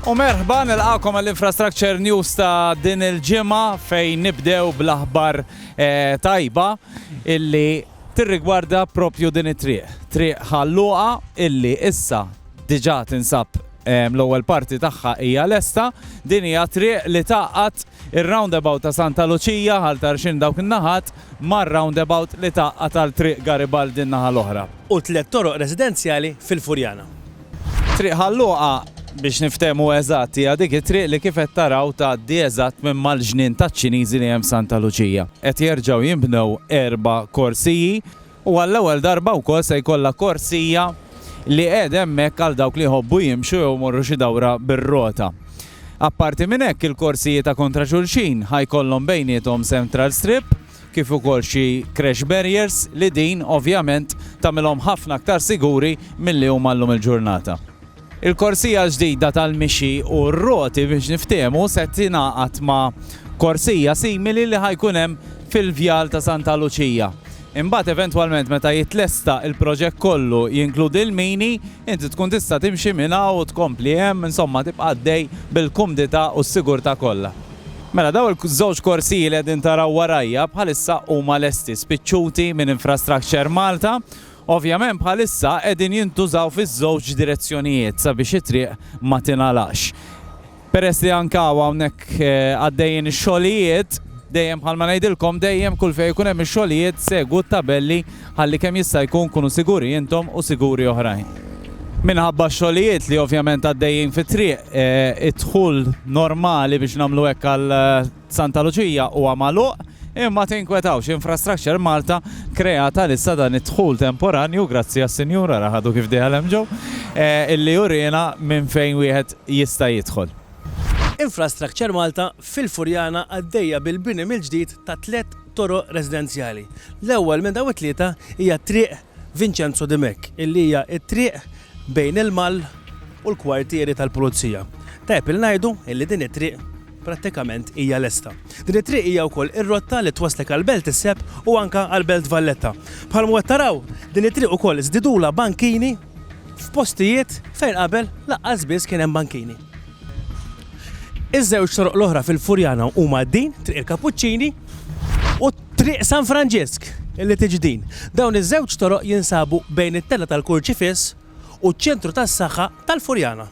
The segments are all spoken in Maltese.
U merħba nilqakom għall-Infrastructure News ta' din il-ġimgħa fejn nibdew bl-aħbar eh, tajba illi tirrigwarda propju din it-triq. Triq ħalluqa illi issa diġà tinsab l-ewwel parti tagħha hija lesta, din hija triq li taqgħat ir-roundabout ta' Santa Luċija ħal tarxin dawk in-naħat mar-roundabout li tgħaqqad għal Triq Garibaldi n-naħa l-oħra. U tliet toroq residenzjali fil-Furjana. Triq Ħal Luqa, biex niftehmu eżatt, hija dik it-triq li kif qed taraw tgħaddi eżatt minn mal-ġnien taċ-Ċiniżi li hemm Santa Luċija. Qed jerġgħu jinbnew erba' korsiji. u għall-ewwel darba wkoll se jkollha korsija li qegħda hemmhekk għal dawk li jħobbu jimxu jew imorru xi dawra bir-rota. Apparti minn hekk, il-korsiji ta' kontra xulxin ħa jkollhom bejniethom central strip kif ukoll xi crash barriers li din, ovvjament, tagħmilhom ħafna aktar siguri milli huma llum il-ġurnata. Il-korsija l-ġdida tal-mixi u r-roti biex niftehmu se tingħaqad ma' korsija simili li ħa jkun hemm fil-Vjal ta' Santa Luċija. Imbagħad eventwalment meta jitlesta l-proġett kollu jinkludi l-mini, inti tkun tista' timxi minn hawn u tkompli hemm, insomma tibqa' għaddej bil-kumdità u s-sigurtà kollha. Mela dawn iż-żewġ korsiji li qegħdin taraw warajja bħalissa huma lesti, spiċċuti minn Infrastructure Malta Ovvjament bħalissa qegħdin jintużaw fiż-żewġ direzzjonijiet sabiex it-triq ma tingħalaqx. Peress li anke hawn hawnhekk għaddejjin ix-xogħlijiet, dejjem bħalma ngħidilkom dejjem kull fejn ikun hemm ix-xogħlijiet segwu t-tabelli ħalli kemm jista' jkun kunu siguri intom u siguri oħrajn. Minħabba x-xogħlijiet li ovvjament għaddejjin fit-triq, id-dħul normali biex nagħmlu hekk għal Santa Luċija huwa magħluq, imma tinkwetawx, Infrastructure Malta kreat għalissa dan id-dħul temporanju, grazzi għas-Sinjura ara ħadu kif dieħel hemm ġew, illi jurina minn fejn wieħed jista' jidħol. Infrastructure Malta fil-Furjana għaddejja bil-bini mill-ġdid ta' tliet toroq residenzjali. L-ewwel minn dawn it-tlieta hija t-triq Vincenzo Di Mech, illi hija t-triq bejn il-Mall u l-kwartieri tal-Pulizija. Tajjeb li ngħidu illi din it-triq prattikament hija lesta. Din it-triq hija wkoll ir-rotta li twasslek għall-Belt is-Sepp u anke għall-Belt Valletta. Bħalma qed taraw, din it-triq ukoll żdidulha bankini f'postijiet fejn qabel laqqas biss kien hemm bankini. Iż-żewġ toroq l-oħra fil-Furjana huma din, Triq il-Kapuċċini u Triq San Franġisk, li tiġi din. Dawn iż-żewġ toroq jinsabu bejn it-Tella tal-Kurċifiss u ċ-Ċentru tas-Saħħa tal-Furjana.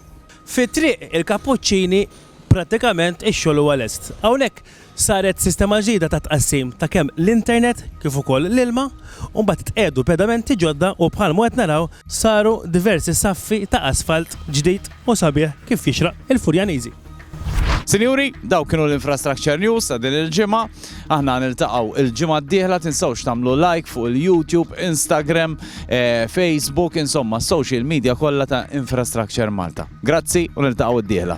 Fi Triq il-Kapuċċini prattikament ix-xogħol huwa lest. Hawnhekk Saret sistema ġdida ta' tqassim ta' kemm l-internet kif ukoll l-ilma u mbagħad tqiegħdu pedamenti ġodda u bħalma qed naraw saru diversi saffi ta' asfalt ġdid u sabiħ kif jixraq il-Furjaniżi. Sinjuri, dawk kienu l-Infrastructure News ta' din il-ġimgħa. Aħna niltaqgħu l-ġimgħa d-dieħla, tinsewx tagħmlu like fuq il-YouTube, Instagram, Facebook, insomma s-social media kollha ta' Infrastructure Malta. Grazzi u niltaqgħu d-dieħla.